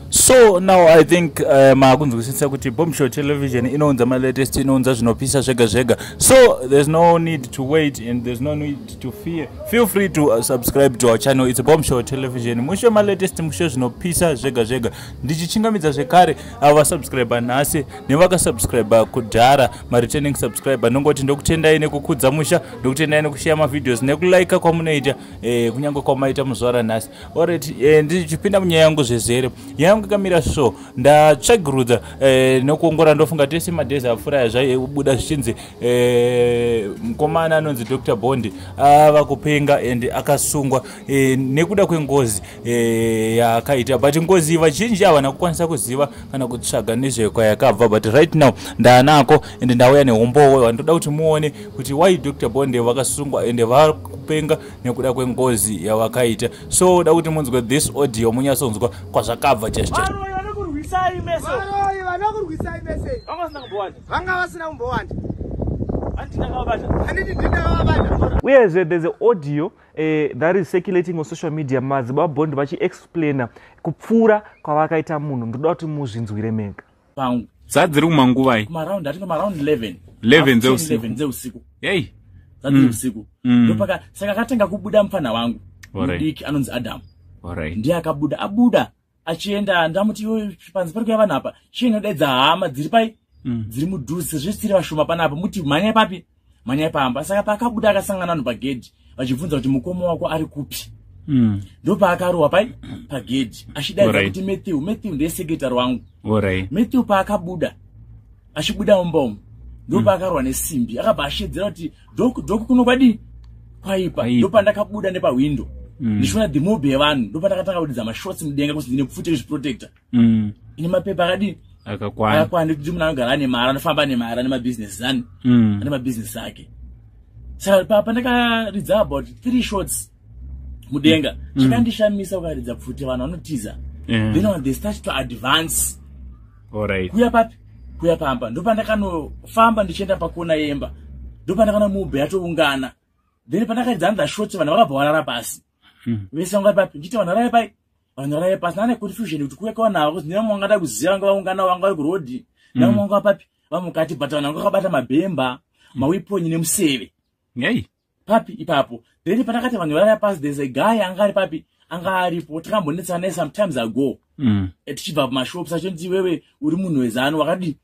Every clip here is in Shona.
so now i think uh, makunzwisisa kuti bombshell television inounza malatest inounza zvinopisa zvega zvega so there's no need to wait and there's no need to fear feel free to uh, subscribe to our channel it's bombshell television mushe malatest mushe zvinopisa zvega zvega ndichichingamidza zvekare avo uh, vasubscriber nhasi nevakasubscriber kudhara mareturning subscriber ndongoti ndokutendai nekukudza musha ndokutendai nekusheya mavideos nekulika kwamunoita eh, kunyange kwamaita muzvara nhasi Alright, eh, ndichipinda munyaya yangu zvezere yangu ikamira so ndatsvagirudza eh, nokuongora ndofunga tese madhezi apfuura aya zvaibuda zvichinzi eh, mukomana anonzi dr bondi ava ah, kupenga and akasungwa eh, nekuda kwengozi eh, yaakaita but ngozi vazhinji havana kukwanisa kuziva kana kutsvaga nezvekwayakabva but right now ndaanako and ndauya nehumbowo vandoda kuti muone kuti why dr bondi vakasungwa and vakupenga nekuda kwengozi yawakaita so da kuti munzwe this audio munyatsonzwa kwazvakabva chaichovaroyi vanokurwisai mese vanga vasina kumbowanda uyezve eh, there's a audio uh, that is circulating on social media madzibaba bond vachiexplaina kupfuura kwavakaita munhu ndoda kuti muzvinzwire mega pangu dzadziri kumanguvai kumaround atinge maround 11 11 dzeusiku 11 dzeusiku hey dzadziri mm. usiku mm. ndopaka saka akatanga kubuda mupfanha wangu mudiki anonzi adam alright ndiye akabuda abuda achienda ndamuti iwe panzi pari kuya vanhu apa chiye ndadedza hama dziri pai mm. dziri mudhuze zvesiri vashoma panapa muti mhanya papi manyai pamba saka paakabuda akasangana vanhu pagedhi vachibvunza kuti mukoma wako ari kupi mm. ndopaakarohwa pai pagedhi achidaidza kuti matthew matthew ndesekretary wangu matthew paakabuda achibuda mumba umu ndopaakarohwa mm. nesimbi akabva ashedzera kuti doku doku kuno kwadii kwaipa ndopandakabuda nepahwindo mm. ndichiona dhimobhi yevanhu ndopandakatanga kudidza mashotsi mudenga kuti ndine pfuti rezviprotector mm. ine mapepa akadii akakwana akakwana nekuti munhu anogara ane mari anofamba ane mari ane mabusiness zani mm. ane mabusiness ake saka papa ndakaridza about three shots mudenga mm. chakandishamisa ukaridza pfuti vanhu vanotiza yeah. then on the start to advance right. kuya papi kuya pamba ndopandakanofamba ndichienda pakona yemba ndopandakana mube yatoungana then pandakaridza another shot vanhu vakabva varara pasi Hmm. vese vanga papi ndichiti vanhu varave pai vanhu varave pasi nane confusion kuti kuve kwavanava kuti nevamwe vangada kuziva vanga vaungana vanga vari kurodi hmm. nevamwe vanga vapapi vamwe kati but vanhu vanga vakabata mabhemba hmm. mawiponyi nemuseve nei papi ipapo then pandakati vanhu varave pasi there's a guy anga ari papi anga aripo takambonetsana naye sometimes ago tichibva pamashops achonzi iwewe uri munhu wezanu wakadii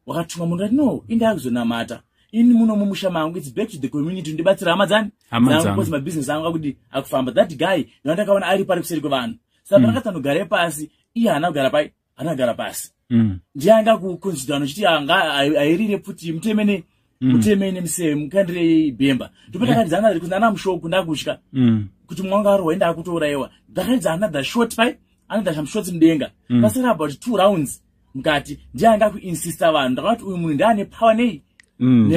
wakatumwa munhu ati no indaa kuzonamata ini muno mumusha mangu its back to the community ndibatsira hama dzani dzangukozi mabusiness angu akuti akufamba that guy ndandakaona ari pari kuseri kwevanhu saka mm. ndakatanogare pasi iye haana kugara pai haana kugara pasi mm. ndiye anga kuconsidano chiti anga airire pfuti mutemene mm. utemene msee mukandire bhemba ndopatakanzi anadha kuti nana mushoku ndakutya mm. kuti mwana wanga arwa enda akutourayiwa ndakanzi anadha short pai anadha shamshoti mudenga mm. pasara about two rounds mukati ndiye anga kuinsista vanhu ndakati uyu munhu ndiane power nei mm,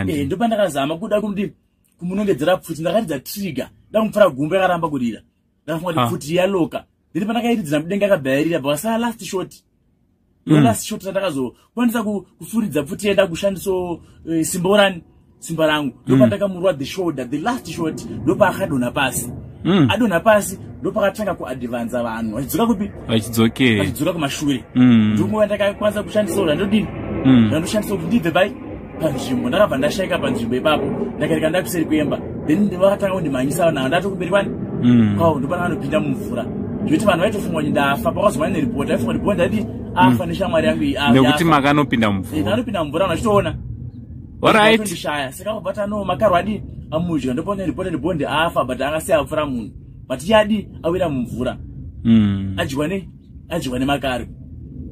eh, ndopandakazama kuda kuti kumunongedzera pfuti ndakaridza trigger ndakumupfura gumbo yakaramba kurira ndakafunga kuti ah. pfuti yaloka then pandakairidzira mudenga akabhayarira bvakasara last short no mm. last short sandakazokwanisa kufuridza pfuti yaenda kushandiso eh, simba urani simba rangu mm. ndopandakamurwa the shoulder the last short ndopaakadonha pasi mm. adonha pasi ndopakatanga kuadvanza vanhu vachidzoka kupi vachidzoka kumashure ndonguva ndakakwanisa kushandisa ura ndodini ndandoshandisa kuti ndibve pai panzvimbo ndakabva ndashaika panzvimbo ipapo ndakareka ndakuseri kuemba then ndivakatanga kundimhanyisa navo ndato kumberi kwani mm. kwavo ndopana vanopinda mumvura zvekuti vanhu vaitofunga kuti ndafa pakazomana neripoti vaifunga kuti bonda ndati afa mm. neshamwari yangu nekuti makanopinda mumvura eh, anopinda mumvura vanhu vachitoona orightndishaya saka kubva tano makarwa adii amudya ndopona ripoti kuti bonde afa but angasiya apfura munhu but yadii awira mumvura mm. adyiwa nei adyiwa nemakaro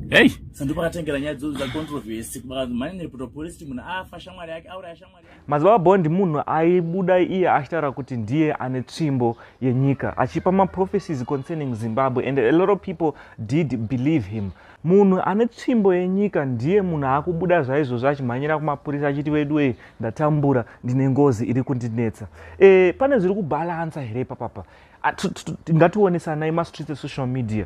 hey sandu pakatengera nyaya dzozo dzacontroversy kubakanzi mhani neputopolisti munhu afa shamwari yake auraya shamwari yake madzibaba bondi munhu aibuda iye achitaura kuti ndiye ane tsvimbo yenyika achipa maprophecies concerning zimbabwe and a lot of people did believe him munhu ane tsvimbo yenyika ndiye munhu akubuda zvaizvozvo achimhanyira kumapurisa achiti veduwei ndatambura ndine ngozi iri kundinetsa e, pane zviri kubhalansa here papapa ngationesanai mastreets esocial media